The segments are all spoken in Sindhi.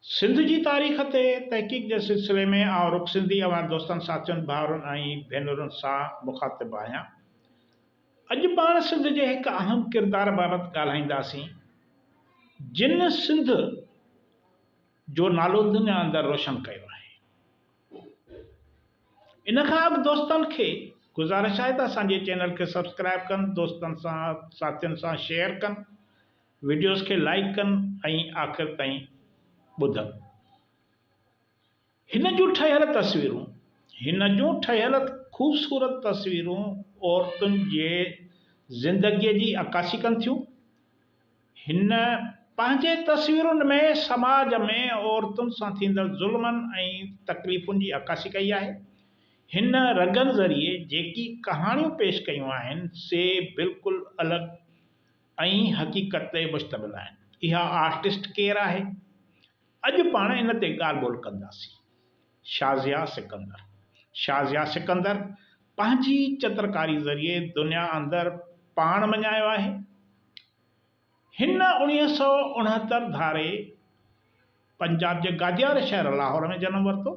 سنڌ جي تاريخ تي تحقيق جي سلسلي ۾ آئون رڳ سنڌي اوهان دوستن ساٿين ڀائرن ۽ ڀينرن سان مخاطب آهيان. اڄ پاڻ سنڌ جي هڪ اهم ڪردار بابت ڳالهائينداسين جن سنڌ جو نالو دنيا اندر روشن ڪيو آهي. ان کان اڳ دوستن کي گذارش آهي ته اسان جي چينل کي سبسڪرائيب ڪن، دوستن سان ساٿين سان شيئر ڪن، وڊيوز کي لائيڪ ڪن ۽ آخر تائين ٻڌن. هن جون ٺهيل تصويرون هن جون ٺهيل خوبصورت تصويرون عورتن جي زندگيء جي عڪاسي ڪن ٿيون. هن پنهنجي تصويرن ۾ سماج ۾ عورتن سان ٿيندڙ ظلمن ۽ تڪليفن جي عڪاسي ڪئي آهي. هن رڳن ذريعي جيڪي ڪهاڻيون پيش ڪيون آهن، سي بلڪل الڳ ۽ حقيقت تي مشتمل آهن. اها آرٽسٽ ڪير آهي؟ اڄ پاڻ ان تي ڳالهه ٻولهه ڪنداسين. شازيا سڪندر، Shazia Sikandar، پنهنجي چترڪاري ذريعي دنيا اندر پاڻ مڃايو آهي. هن اوڻيهه سؤ اڻهتر ڌاري پنجاب جي گاديار شهر لاهور ۾ جنم ورتو.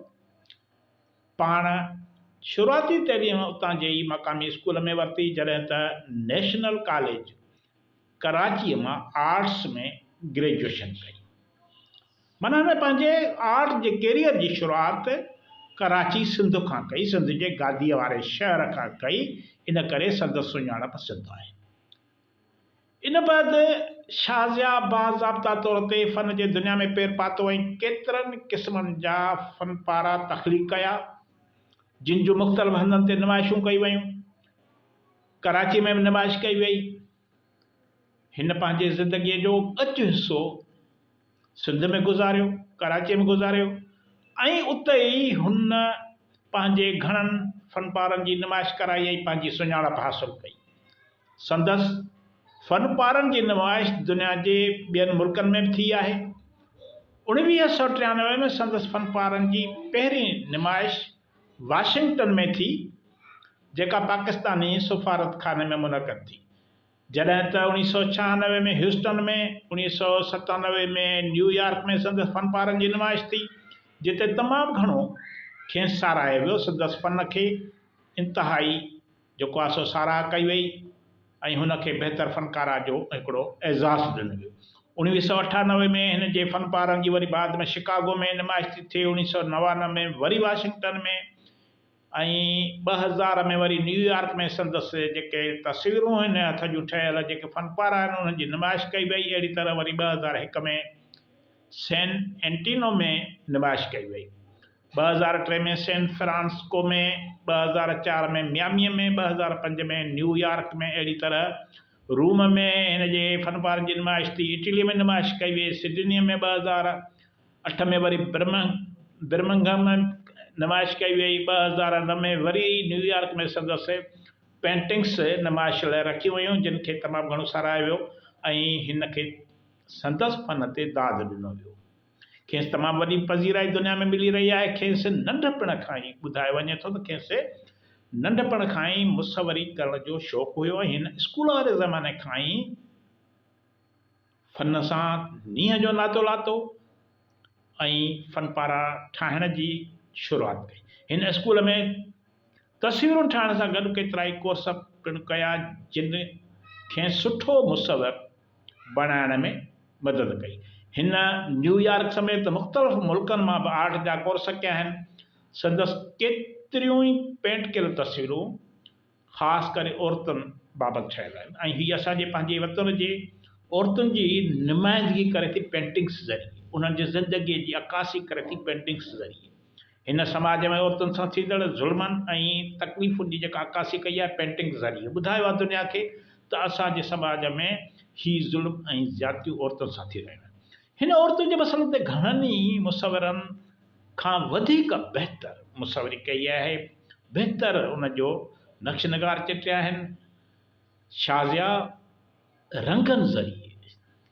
پاڻ شروعاتي تعليم اتان جي ئي مقامي اسڪول ۾ ورتي جڏهن ته نيشنل ڪاليج ڪراچيء مان آرٽس ۾ گريجوئيشن ڪئي. معنيٰ هن پنهنجي آرٽ جي ڪيريئر جي شروعات ڪراچي سنڌ کان ڪئي، سنڌ جي گاديء واري شهر کان ڪئي، ان ڪري سندس سڃاڻپ سنڌ آهي. ان بعد شازيا باضابطا طور تي فن جي دنيا ۾ پير پاتو ۽ ڪيترن قسمن جا فن پارا تخليق ڪيا، جن جون مختلف هنڌن تي نمائشون ڪيون ويون. ڪراچي ۾ به نمائش ڪئي وئي. هن پنهنجي زندگيء جو ڳچ حصو سنڌ ۾ گذاريو، ڪراچيء ۾ گذاريو ۽ اتي ئي هن پنهنجي گهڻن فنپارن جي نمائش ڪرائي ۽ پنهنجي سڃاڻپ حاصل ڪئي. سندس فنپارن جي نمائش دنيا جي ٻين ملڪن ۾ به ٿي آهي. اوڻويهه سؤ ٽيانوي ۾ سندس فنپارن جي پهرين نمائش، واشنگٽن ۾ ٿي جيڪا پاڪستاني سفارتخاني ۾ منعقد ٿي جڏهن ته اوڻيھ سؤ ڇهانوي ۾ هيوسٽن ۾ اوڻيھ سؤ ستانوي ۾ نيويارڪ ۾ سندس فنپارن جي نمائش ٿي جتي تمام گهڻو کين ساراهيو ويو سندس فن کي انتهائي جيڪو آ سو ساراهه ڪئي وئي ۽ هن کي بهتر فنڪار آ جو هڪڙو اعزاز ڏنو ويو. اوڻويهه سؤ اٺانوي ۾ هن جي فن پارن جي وري بعد ۾ شڪاگو ۾ نمائش ٿي ٿئي، اوڻيهه سؤ نوانوي ۾ وري واشنگٽن ۾ ۽ ٻه هزار ۾ وري نيويارڪ ۾ سندس جيڪي تصويرون هن هٿ جون ٺهيل جيڪي فن پار آهن انهن جي نمائش ڪئي وئي، اهڙي طرح وري ٻه هزار هڪ ۾ سين اينٽينو ۾ نمائش ڪئي وئي. ٻه هزار ٽي ۾ سين فرانسسڪو ۾ ٻه هزار چار ۾ مياميء ۾ ٻه هزار پنج ۾ نيويارڪ ۾ اهڙي طرح روم ۾ هن جي فنپارن جي نمائش ٿي اٽلي ۾ نمائش ڪئي وئي سڊنيء ۾ ٻه هزار اٺ ۾ وري برمنگهم ۾ نمائش ڪئي وئي ٻه هزار نو ۾ وري نيويارڪ ۾ سندس پينٽنگس نمائش لاء رکيون ويون جن کي تمام گهڻو ساراهيو ويو ۽ هن کي سندس فن تي داد ڏنو ويو کيس تمام وڏي پذيرائي دنيا ۾ ملي رهي آهي. کيس ننڍپڻ کان ئي ٻڌايو وڃي ٿو ته کيس ننڍپڻ کان ئي مصوري ڪرڻ جو شوق هيو ۽ هن اسڪول واري زماني کان ئي فن سان نينهن جو ناتو لاتو ۽ فن پارا ٺاهڻ جي شروعات ڪئي. هن اسڪول ۾ تصويرون ٺاهڻ سان گڏ ڪيترائي ڪورس پڻ ڪيا جن کين سٺو مصور بڻائڻ ۾ مدد ڪئي. هن نيويارڪ سميت مختلف ملڪن مان به آرٽ جا ڪورس ڪيا آهن. سندس ڪيتريون ئي پينٽ ڪيل تصويرون خاص ڪري عورتن بابت ٺهيل آهن ۽ هي اسان جي پنهنجي وطن جي عورتن جي نمائندگي ڪري ٿي پينٽنگس ذريعي انهن جي زندگي جي عڪاسي ڪري ٿي پينٽنگس ذريعي هن سماج ۾ عورتن سان ٿيندڙ ظلمن ۽ تڪليفن جي جيڪا عڪاسي ڪئي آهي پينٽنگ ذريعي ٻڌايو آهي دنيا کي ته اسان جي سماج ۾ هي ظلم ۽ زيادتيون عورتن سان ٿي رهيون آهن. هن عورتن جي مسئلن تي گهڻن ئي مصورن کان وڌيڪ بهتر مصوري ڪئي آهي، بهتر ان جو نقش نگار چٽيا آهن. شازيا. رنگن ذريعي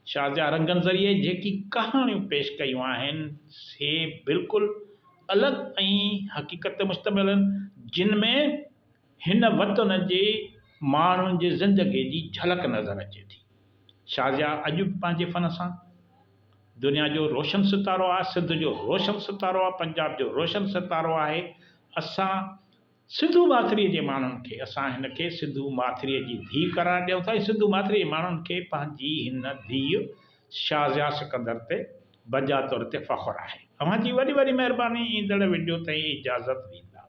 شازيا رنگن ذريعي جيڪي ڪهاڻيون پيش ڪيون آهن سي بلڪل الڳ ۽ حقيقت تي مشتمل آهن جن ۾ هن وطن جي ماڻهن جي زندگي جي جهلڪ نظر اچي ٿي شازيا اڄ به پنهنجي فن سان دنيا جو روشن ستارو آهي سنڌ جو روشن ستارو آهي پنجاب جو روشن ستارو آهي اسان سنڌو ماٿريء جي ماڻهن کي اسان هن کي سنڌو ماٿريء جي ڌيء قرار ڏيون ٿا ۽ سنڌو ماٿريء جي ماڻهن کي پنهنجي هن ڌيء شازيا سڪندر تي بجا طور تي فخر آهي. اوهان جي وڏي وڏي مهرباني ايندڙ وڊيو تائين اجازت ڏيندا.